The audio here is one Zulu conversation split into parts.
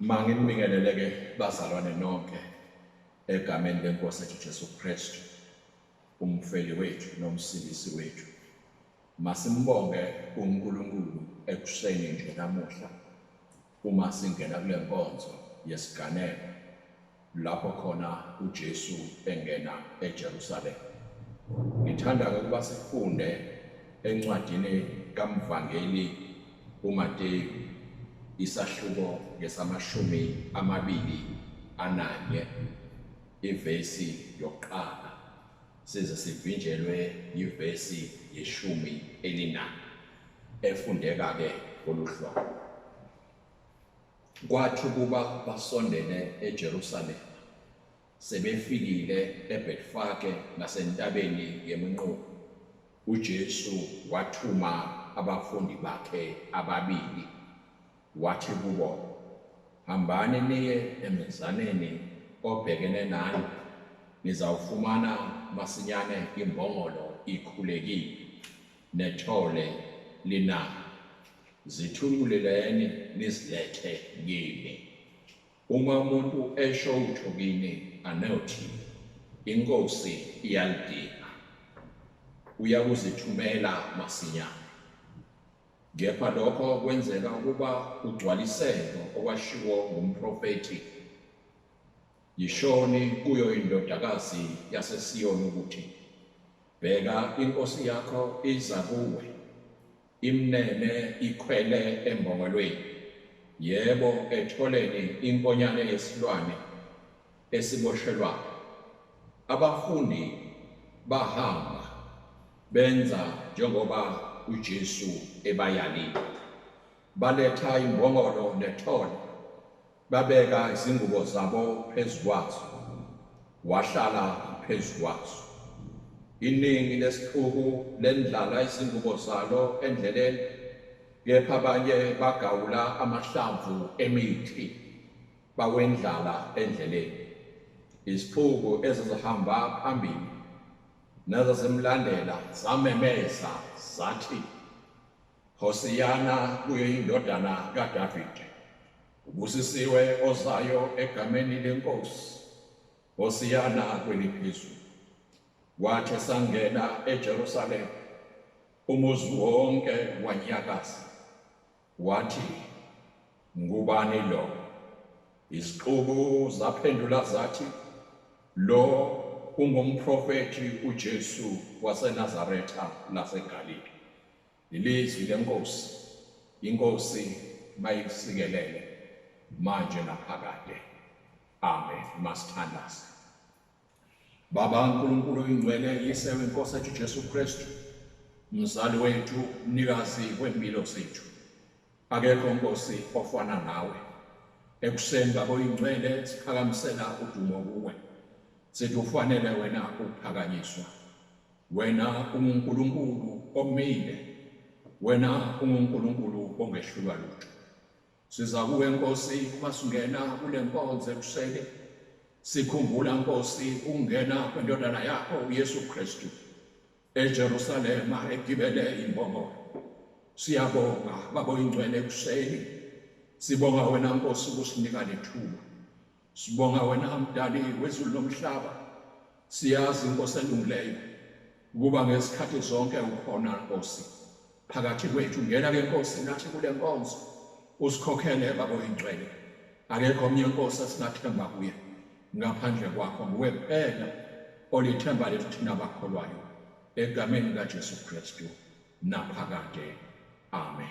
Manginibingelele ke bazalwane nonke egameni lenkosi ethu Jesu Kristu umfeli wethu nomsindisi wethu masimbonge uNkulunkulu ekuseni nje namuhla Uma singena kule nkonzo yesiganeko lapho khona uJesu engena eJerusalema. Ngithanda ukuba sifunde encwadini kaMvangeli uMateyu isahluko ngesamashumi amabili ananye ivesi yokuqala. size sivinjelwe yivesi yeshumi elinani efundeka ke ngoluhlobo kwathi ukuba basondele eJerusalema sebefikile eBetfage nasentabeni yeminqubo uJesu wathuma abafundi bakhe ababili Wathi kubo, Hambani niye emenzaneni obhekene nani, nizawufumana masinyane imbongolo ikhulekile, nethole linani. Zithunquleleni nizilethe kimi. Uma umuntu esho utho kini, anothi, INkosi iyalidinga, uyakuzithumela masinyane. Kepha lokho kwenzeka ukuba kugcwaliseke okwashiwo ngumprofethi, Yishoni kuyo indodakazi yaseSiyoni ukuthi, Bheka, inkosi yakho iza kuwe, imnene ikhwele embongolweni, yebo, etholeni inkonyane yesilwane, esiboshelwayo, abafundi bahamba benza njengoba uJesu ebayalile. Baletha imbongolo nethole, babeka izingubo zabo phezu kwazo, wahlala phezu kwazo. Iningi lesixuku lendlala izingubo zalo endleleni, kepha abanye bagawula amahlamvu emithi. bakwendlala endleleni iziphuku ezizihamba phambili nezazimlandela zamemeza zathi Hosiyana kuyo indodana kaDavide ubusisiwe ozayo egameni lenkosi Hosiyana kweliphezulu wathi sangena eJerusalem umuzi wonke wanyakaza Wathi, Ngubani lo? Izixuku zaphendula zathi, Lo ungumprofethi uJesu waseNazaretha laseGalile. Ilizwi lenkosi, inkosi mayikusikelele manje naphakade. Amen. Masithandaze. Baba uNkulunkulu oyingcwele yise wenkosi ethu Jesu Kristu mzali wethu mnikazi wempilo zethu akekho nkosi ofana nawe ekuseni baba oyingcwele siphakamisela udumo kuwe sithi ufanele wena ukuphakanyiswa wena unguNkulunkulu omile wena unguNkulunkulu ongehlulwa lutho Siza kuwe Nkosi uma singena kule nkonzo ekuseni sikhumbula Nkosi ukungena kwendodana yakho uYesu Kristu eJerusalema egibele imbongolo. Siyabonga babo ingcwele ekuseni sibonga wena Nkosi ukusinika lethuba. Sibonga wena mdali wezulu nomhlaba. Siyazi inkosi elungileyo ukuba ngesikhathi zonke ukhona Nkosi. Phakathi kwethu ngena ke Nkosi nathi kule nkonzo. Usikhokhele babo ingcwele. Akekho omnye Nkosi asinathemba kuye ngaphandle kwakho nguwe kuphela olithemba lethu thina bakholwayo egameni likaJesu Kristu naphakade. Amen.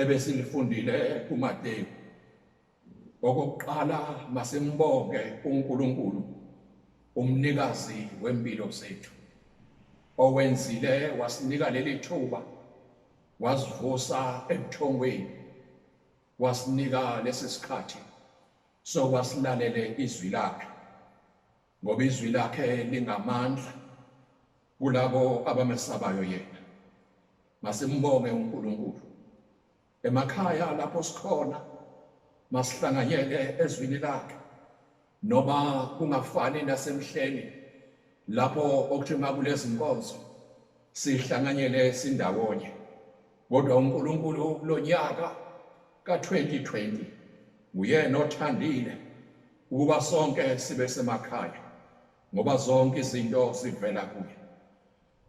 ebesilifundile kuMateyu. Okokuqala masimbonge uNkulunkulu umnikazi wempilo zethu owenzile wasinika leli thuba wasivusa ebuthongweni wasinika lesi sikhathi sokwasilalele izwi lakhe ngoba izwi lakhe lingamandla Kulabo abamesabayo yena, masimbonge uNkulunkulu. Emakhaya lapho sikhona, masihlanganyele ezwini lakhe, noma kungafani nasemhleni lapho okuthi makulezi nkonzo sihlanganyele sindawonye. Kodwa uNkulunkulu kulo nyaka ka-2020 nguyena othandile ukuba sonke sibe semakhaya ngoba zonke izinto zivela kuye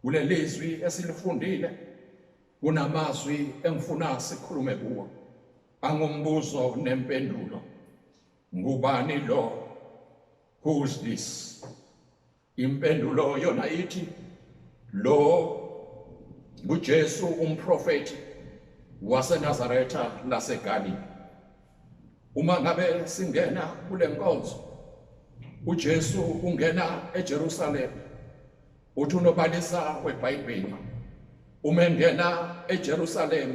kulelizwi esilifundile kunamazwi engifuna sikhulume kuwo angumbuzo nempendulo ngubani lo who's this impendulo yona ithi lo nguJesu umprofeti waseNazaretha laseGalile Uma ngabe singena kule nkonzo uJesu ungena eJerusalem uthi unobalisa weBhayibheli uma engena eJerusalem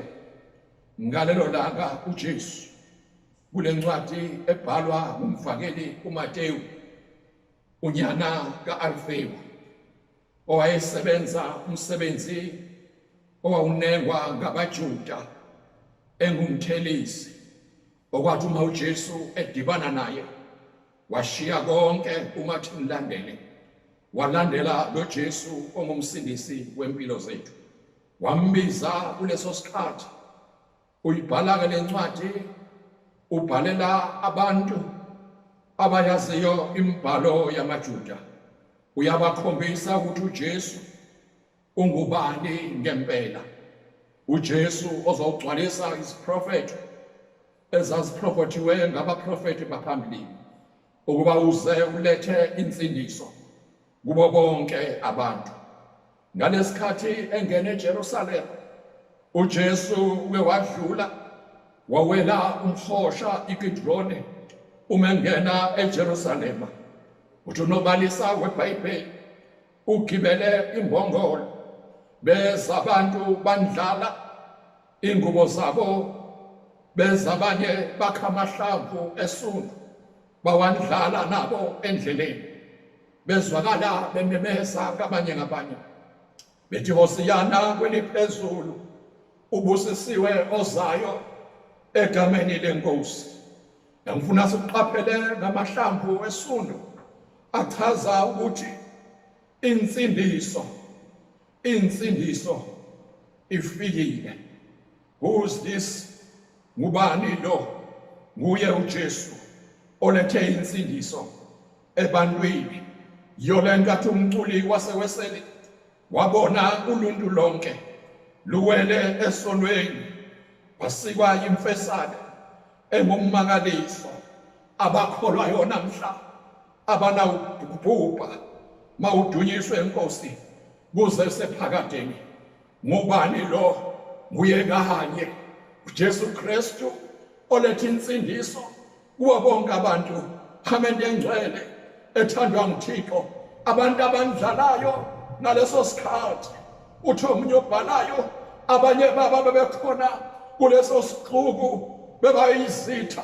ngalelo langa uJesu kule ncwadi ebhalwa ngumvakeli uMateyu unyana kaAlfeyu owayesebenza umsebenzi owawunengwa ngabaJuda engumthelisi okwathi uma uJesu edibana naye washiya konke umathi mlandele walandela loJesu ongumsindisi wempilo zethu wambiza kuleso sikhathi Uyibhala-ke le ncwadi ubhalela abantu abayaziyo imibhalo yamaJuda. Uyabakhombisa ukuthi uJesu ungubani ngempela. UJesu ozogcwalisa isiprofetho ezaziprofethiwe ngabaprofethi baphambilini ukuba uze ulethe insindiso kubo bonke abantu. Ngalesikhathi engena eJerusalema, uJesu uke wadlula wawela umhosha iKidrone uma engena eJerusalema. Uthi unobalisa weBhayibheli ugibele imbongolo beza abantu bandlala ingubo zabo beza abanye bakha amahlamvu esundu bawandlala nabo endleleni bezwakala bememeza kabanye ngabanye bethi hosiyana kweliphezulu ubusisiwe ozayo egameni lenkosi ngifuna siqaphele ngamahlamvu wesundu achaza ukuthi insindiso insindiso ifikile Who's this? Ngubani lo? Nguye uJesu olethe insindiso ebantwini. Yole nkathi umculi waseweseli wabona uluntu lonke luwele esonweni basikwa imfesane engummangaliso abakholwa yona mhla abanawubhubha mawudunyiswe inkosi kuze sephakadeni Ngubani lo? Nguye kanye uJesu Kristu oletha insindiso kubo bonke abantu phakade engcwele ethandwa nguThixo abantu abandlalayo ngaleso sikhathi uthi omunye obhalayo abanye baba bebekhona kuleso sixuku bebayizitha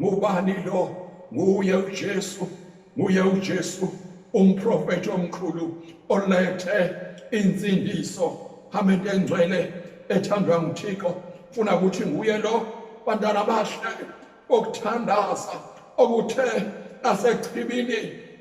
ngubani lo nguye uJesu nguye uJesu umprofeti omkhulu olethe insindiso hamba into engcwele ethandwa nguThixo funa ukuthi nguye lo bantwana bahle okuthandaza okuthe asechibini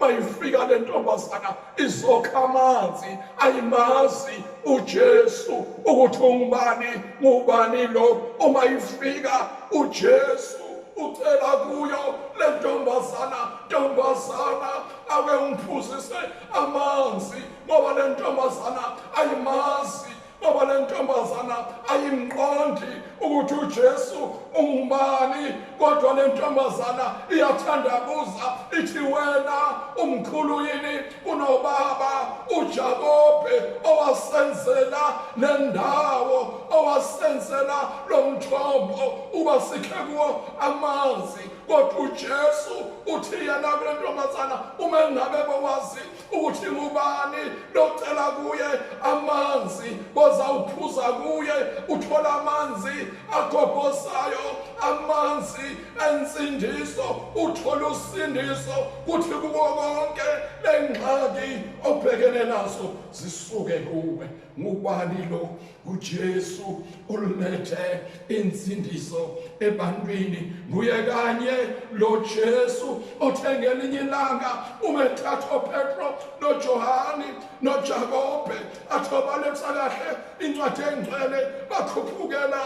bayifika le ntombazana izokha amanzi ayimazi uJesu ukuthi ungubani ngubani lo uma ifika uJesu ucela kuyo le ntombazana ntombazana ake ungiphuzise amanzi ngoba le ntombazana ayimazi Baba le ntombazana ayimqondi ukuthi uJesu ungubani kodwa le ntombazana iyathandabuza ithi wena umkhulu yini kunobaba uJakobe owasenzela nendawo owasenzela lomthombo uba sikhe kuwo amanzi kodwa uJesu uthi yena kule ntombazana uma engabe bawazi uthi ngubani locela kuye amanzi bozawuphuza kuye uthola amanzi agobhozayo amanzi ensindiso uthola usindiso kuthi kuko konke lengxaki obhekene naso zisuke kuwe ngubani lo uJesu olulethe insindiso ebantwini nguye kanye lo Jesu othengele inye ilanga umethatha uPetro noJohane noJakobe athobaletha kahle incwadi engcwele bakhuphukela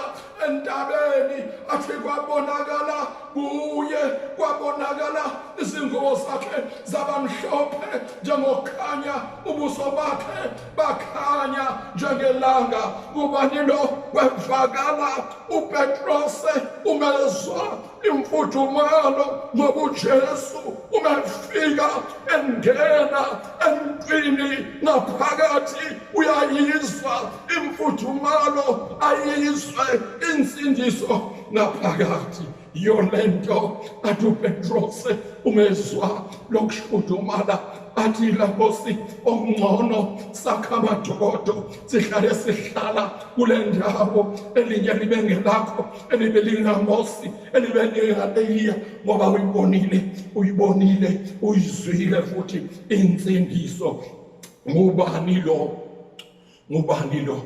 entabeni athi kwabonakala kuye kwabonakala izingubo zakhe zabamhlophe njengokukhanya ubuso bakhe bakhanya njengelanga ubani lo wevakala upetrose umezwa imfudumalo ngoba ujesu umefika engena emntwini ngaphakathi uyayizwa imfudumalo ayizwe insindiso ngaphakathi yole nto athi upetrose umezwa lokuhludumala athi lakosi okungcono sakha amadokodo sihlale sihlala kule ndawo elinye libe ngelakho elibe lingamosi elibe lingaleyiya ngoba uyibonile uyibonile uyizwile futhi insindiso ngubani lo ngubani lo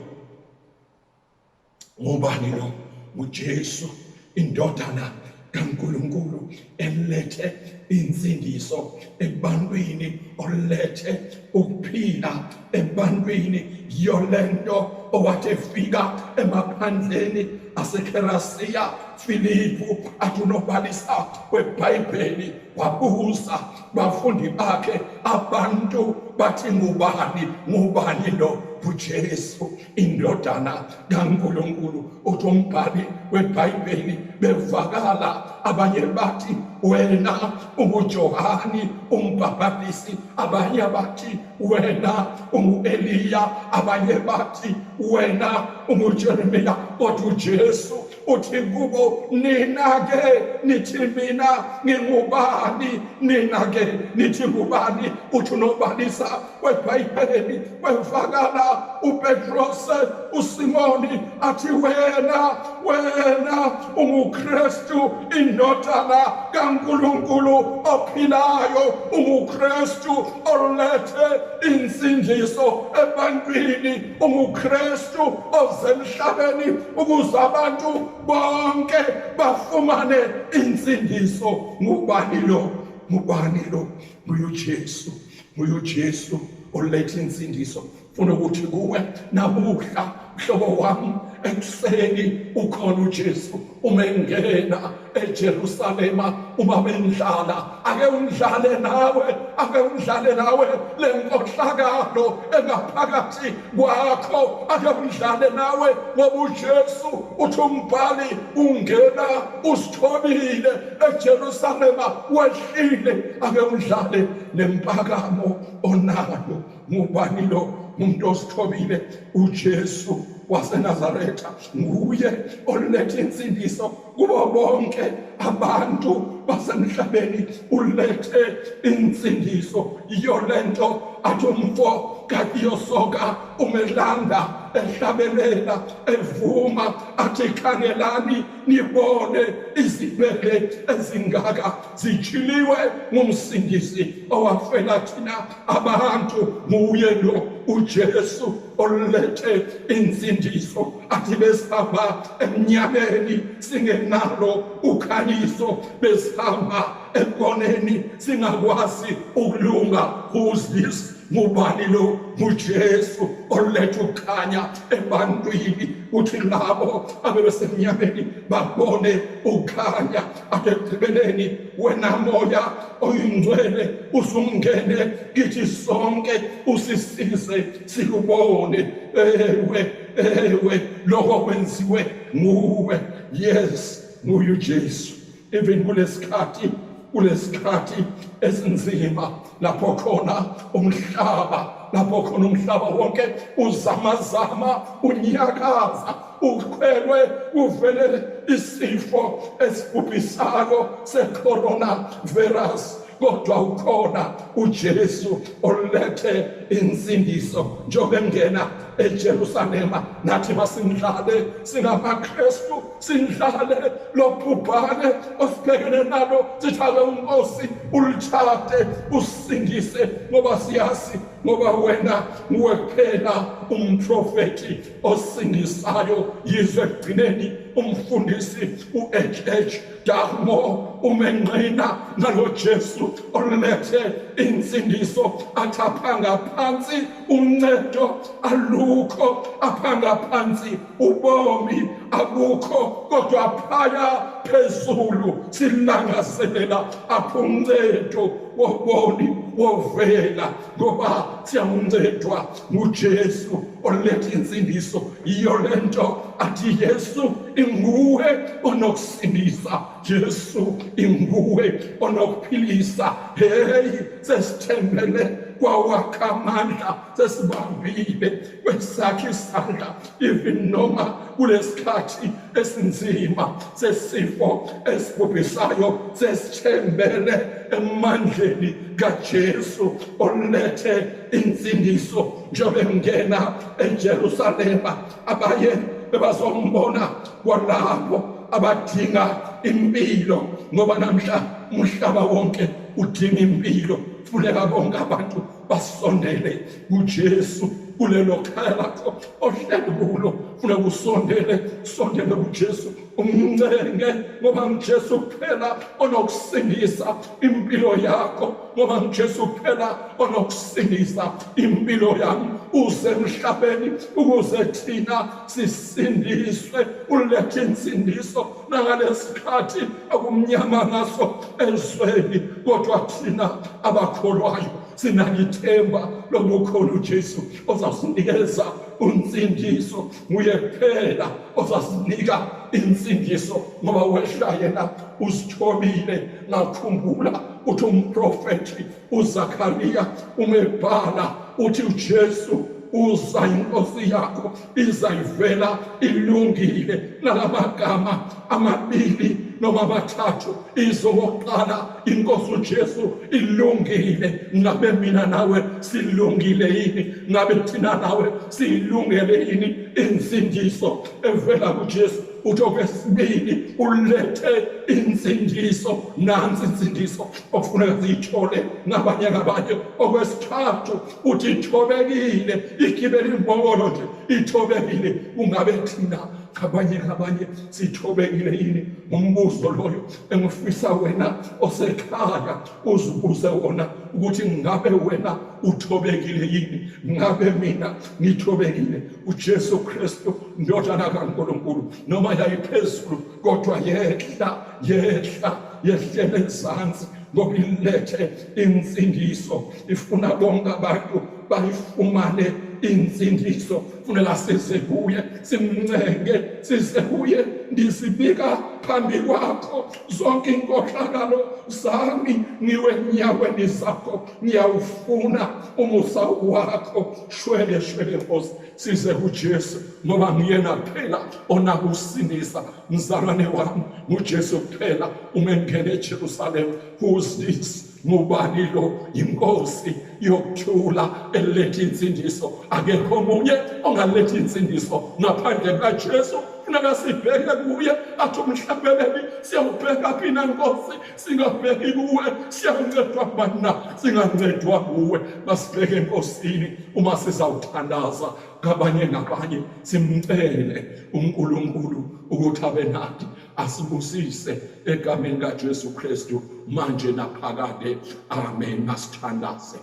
Ngubani lo? NguJesu, indodana kaNkulunkulu elethe insindiso ebantwini olethe ukuphila ebantwini yolento owathi efika emaphandleni aseKherasiya Filipu akunobhalisa kweBhayibheli wabuza bafundi bakhe abantu bathi ngubani ngubani lo uJesu indodana kaNkulunkulu uthi umbhali weBhayibheli bevakala abanye bathi wena unguJohani umbhapatisi abanye bathi wena unguEliya abanye bathi wena unguJeremiya kodwa uJesu uthi kubo nina-ke nithi mina ngingubani nina-ke nithi ngubani uthi unobalisa kwebhayibheli kwevakala upetrose usimoni athi wena wena ungukristu indodana kankulunkulu ophilayo ungukristu olethe insindiso ebantwini ungukristu uKristu osemhlabeni ukuze abantu bonke bafumane insindiso ngubani lo ngubani lo nguYesu nguYesu oletha insindiso funa ukuthi kuwe namuhla mhlobo wami ekuseni ukhona uJesu uma engena eJerusalema uma bendlala ake undlale nawe ake undlale nawe lenkohlakalo engaphakathi kwakho ake undlale nawe ngoba uJesu uthi umbhali ungena usithobile eJerusalema wehlile ake undlale lempakamo onayo ngubani lo umuntu osithobile uJesu waseNazaretha nguye olethe insindiso kubo bonke abantu basemhlabeni ulethe insindiso iyo lento athi umfo kakiyosoka umelanda ehlabelela evuma athi khangelani nibone izibele ezingaka zijhiliwe ngumsindisi owafela thina abantu nguye lo uJesu olethe insindiso athi besihamba emnyameni singenalo ukhanyiso besihamba ekoneni singakwazi ukulunga who's this ngubani lo nguJesu oletha ukukhanya ebantwini uthi labo abebesemnyameni babone ukukhanya ekugqibeleni wena moya oyingcwele usungene kithi sonke usisize sikubone ewe ewe lokho kwenziwe nguwe yes nguye uJesu even kulesikhathi kulesikhathi esinzima lapho khona umhlaba lapho khona umhlaba wonke uzamazama unyakaza ukhwelwe uvele isifo esibhubhisako secorona virus kodwa ukhona uJesu olethe insindiso njengoba engena eJerusalema nathi masimdlale singamaKristu sidlale lobhubhane osibhekene nalo sithake unkosi ulitshate usindise ngoba siyazi ngoba wena nguwe kuphela umprofethi osindisayo yizwe ekugcineni umfundisi u-hh darmo umenqina ngalo jesu olulethe insindiso athi aphanga phansi uncedo alukho aphanga phansi ubomi abukho kodwa phaya phezulu silangazelela apho uncedo woboni wovela ngoba siyakuncedwa ngujesu oletha insindiso yiyo le nto athi yesu inguwe onokusindisa jesu inguwe onokuphilisa heyi sesithembele kwawakha amandla sesibambile kwesakhe isandla even noma kulesikhathi esinzima sesifo esibhubhisayo sesithembele emandleni kaJesu olethe insindiso njengoba engena eJerusalema abaye bebazombona kwalapho abadinga impilo ngoba namhla umhlaba wonke udinga impilo funeka bonke abantu basondele kuJesu kulelo khaya lakho ohleli kulo funa kusondele sondele kuJesu umncenge ngoba nguJesu kuphela onokusindisa impilo yakho ngoba nguJesu kuphela onokusindisa impilo yami uze emhlabeni ukuze thina sisindiswe ulethe insindiso nangalesikhathi akumnyama ngaso ezweni kodwa thina abakholwayo sinalithemba lokukhona uJesu ozasinikeza unsindiso nguye kuphela ozasinika insindiso ngoba wehla yena usithobile ngakhumbula uthi umprofethi uZakariya uma ebhala uthi uJesu uza inkosi yakho izayivela ilungile nalamagama amabili noma abathathu izokuqala inkosi uJesu ilungile ngabe mina nawe silungile yini ngabe thina nawe silungele yini insindiso evela kuJesu uthi okwesibili ulethe insindiso nansi insindiso okufuneka ziyithole ngabanye ngabanye okwesithathu uthi ithobekile igibele imbokolo nje ithobekile ungabe thina ngabanye ngabanye sithobekile yini ngombuzo loyo engifisa wena osekhaya uzibuze wona ukuthi ngabe wena uthobekile yini ngabe mina ngithobekile uJesu Kristu ndodana kaNkulunkulu noma yayiphezulu kodwa yehla yehla yehlele ezansi ngoba ilethe insindiso ifuna bonke abantu bayifumane insindiso funela size kuye simncenge size kuye ndisibika phambi kwakho zonke inkohlakalo zami ngiwe nyaweni zakho ngiyawufuna umusa wakho shwele shwele nkosi size kuJesu ngoba nguyena kuphela onakusinisa mzalwane wami nguJesu kuphela uma engena eJerusalem who is this ngubani lo inkosi yokuthula eletha insindiso akekho omunye ongaletha insindiso ngaphandle kukaJesu funeka sibheke kuye athi umhlabeleli siyawubheka phina nkosi singabheki kuwe siyakuncedwa kubani na singancedwa kuwe masibheke enkosini uma sizawuthandaza ngabanye ngabanye simcele unkulunkulu ukuthi abe nathi asibusise egameni kajesu kristu manje naphakade amen masithandaze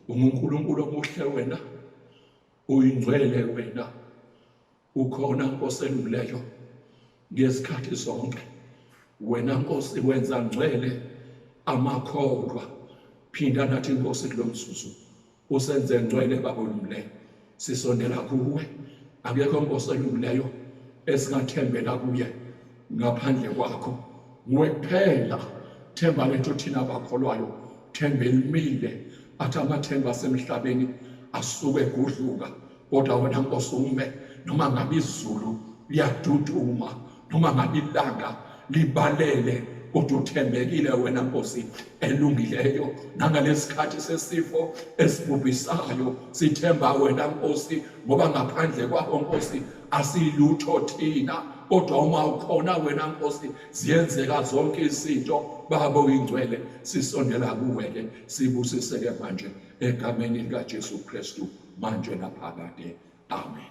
ungunkulunkulu omuhle wena uyingcwele wena ukhona nkosi elungileyo ngezikhathi zonke wena nkosi wenza ngcwele amakholwa phinda nathi nkosi kulo mzuzu usenze ngcwele baba olungileyo sisondela kuwe akekho nkosi elungileyo esingathembela kuye ngaphandle kwakho nguwe kuphela themba lento thina abakholwayo themba elimile athi amathemba asemhlabeni asuke egudluka kodwa wena nkosi ume noma ngabe izulu liyaduduma noma ngabe ilanga libalele kodwa uthembekile wena nkosi elungileyo nangalesikhathi sesifo esibhubhisayo sithemba wena nkosi ngoba ngaphandle kwakho nkosi asilutho thina kodwa uma ukhona wena nkosi ziyenzeka zonke izinto baba oyingcwele sisondela kuwe ke sibusiseke manje egameni likaJesu Kristu manje naphakade amen